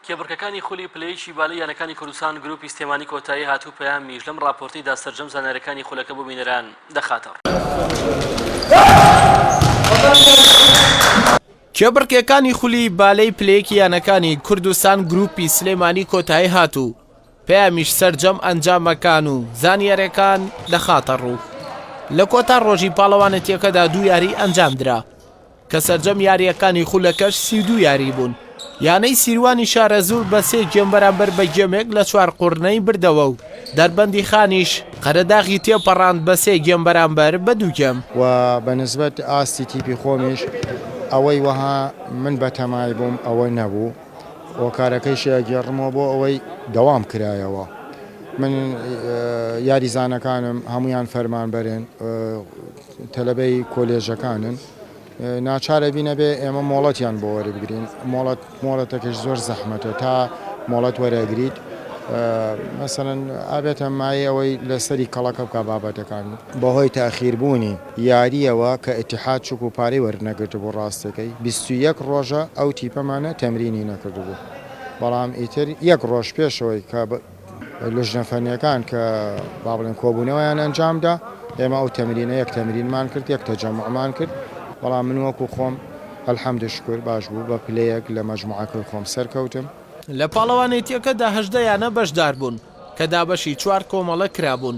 کێبڕکێکانی خولی پلەیەکی بالای یانەکانی کوردستان گروپی سلێمانی کۆتایی هات و پەیامیش لەم ڕاپۆرتەیدا سەرجەم زانیاریەکانی خولەکە بۆ بینەران دەخاتەڕوو. کێبڕکێکانی خولی بالەی پلەیەکی یانەکانی کوردستان گروپی سلێمانی کۆتایی هات و پەیامیش سەرجەم ئەنجامەکان و زانیارەکان دەخاتەڕوو لە کۆتا ڕۆژی پاڵەوانێتیەکەدا دوو یاری ئەنجامدرا، کە سەرجەم یارییەکانی خولەکەش سی و دوو یاری بوون، یانەی سیروانی شارەزوور بە سێ گێم بەرامبەر بە گێمێک لە چوارقوڕنەی بردەوە و دەربەندی خانیش قەرەداغی تێپەڕاند بە سێ گێم بەرامبەر بە دوو گێم. و بە نسبەت ئاستی تیپی خۆمیش ئەوەی وەها من بەتەمای بووم ئەوە نەبوو، هۆکارەکەیشی ئەگێڕمەوە بۆ ئەوەی دەوام کرایەوە. من یاریزانەکانم هەموویان فەرمانبەرن، تەلەبەی کۆلێژەکانن ناچار ئەبین ئەبێ ئێمە مۆڵەتیان بۆ وەربگرین مۆڵەت مۆڵەتەکەش زۆر زەحمەتە تا مۆڵەت وەرەگریت مەسەن ئابێتە مای ئەوەی لەسەری کەڵەکە بکە بابەتەکان بەهۆی تاخیربوونی یاریەوە کە ئتیحاد چک و پارەی وەرنەگرت بۆ ڕاستەکەی بیست و یەک ڕۆژە ئەو تیپەمانە تەمرینی نەکردبوو بەڵام ئیتر یەک ڕۆژ پێشەوەی کە لجنە فەنیەکان کە با بڵێن کۆبوونەوەیان ئەنجامدا ئێمە ئەو تەمرینە یەک تەمرینمان کرد یەک تەجەمعمان کرد بەڵام من وەکو خۆم الحمد شکر باش بوو بە پلەیەک لە مەجموعەکەی خۆم سەرکەوتم. لە پاڵەوانێتییەکەدا هەژدە یانە بەشدار بوون کە دابەشی چوار کۆمەڵە کرابوون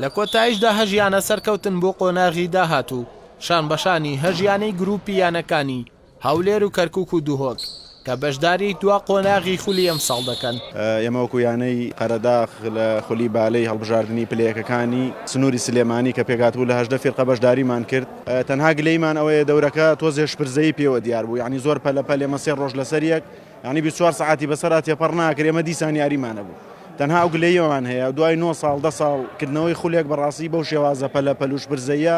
لە کۆتایشدا هەژ یانە سەرکەوتن بۆ قۆناغی داهاتوو شان بەشانی هەژ یانەی گروپی یانەکانی هەولێر و کەرکوک و دهۆک کە بەشداری دوا قۆناغی خولی ئەمساڵ دەکەن. ئێمە وەکو یانەی قەرەداغ لە خولی بالەی هەڵبژاردنی پلە یەکەکانی سنوری سلێمانی کە پێکهاتبوو لە هەژدە فیرقە بەشداریمان کرد تەنها گلەیمان ئەوەیە دەورەکە تۆزێ شپرزەیی پێوە دیار بوو یانی زۆر پەلە پەل ئێمە سێ ڕۆژ لەسەر یەک یانی بیست و چوار سەعاتی بەسەرا تێپەڕ ناکرێ ئێمە دیسان یاریمان هەبوو تەنها ئەو گلەییەمان هەیە دوای نۆ ساڵ دە ساڵ کردنەوەی خولێک بەڕاستی بەو شێوازە پەلە پەل و شپرزەییە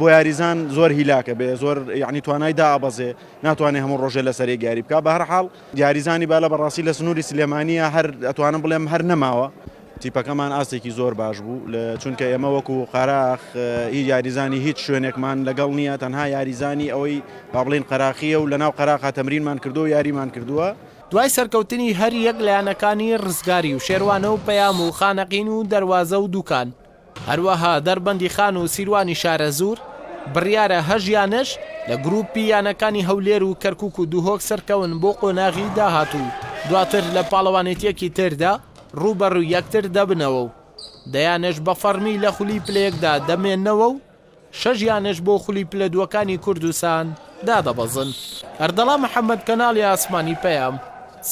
بۆ یاریزان زۆر هیلاکە بێ زۆر یعنی توانای دابەزێ ناتوانێت هەموو ڕۆژێ لە سەرێک یاری بکە بە هەرحاڵ یاریزانی بالە بەڕاستی لە سنووری سلێمانە هەر ئەتوانم بڵێم هەر نەماوە تیپەکەمان ئاستێکی زۆر باش بوو لە چونکە ئێمە وەکو قاراخ هی یاریزانی هیچ شوێنێکمان لەگەڵ نییە تەنها یاریزانی ئەوەی با بڵین قەراخیە و لە ناو قەراخا تەمرینمان کردو و یاریمان کردووە دوای سەرکەوتنی هەر یەک لە یانەکانی ڕزگاری و شێروانە و پەیام و خانەقین و دەروازە و دوکان، هەروەها دەربەندیخان و سیروانی شارەزوور، بڕیارە هەژ یان نەژ لە گرووپی یانەکانی هەولێر و کەرکووک و دهۆک سەرکەون بۆ قۆناغی داهاتوو و دواتر لە پاڵەوانێتییەکی تردا رووبەڕووی یەکتر دەبنەوە و دەیانەش بە فەڕمی لە خولی پلە یەکدا دەمێننەوە و شەش یانەش بۆ خولی پلە دووەکانی کوردستان دادەبەزن. ئەردەڵا محەمەد کەناڵی ئاسمانی پەیام،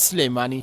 سلێمانی.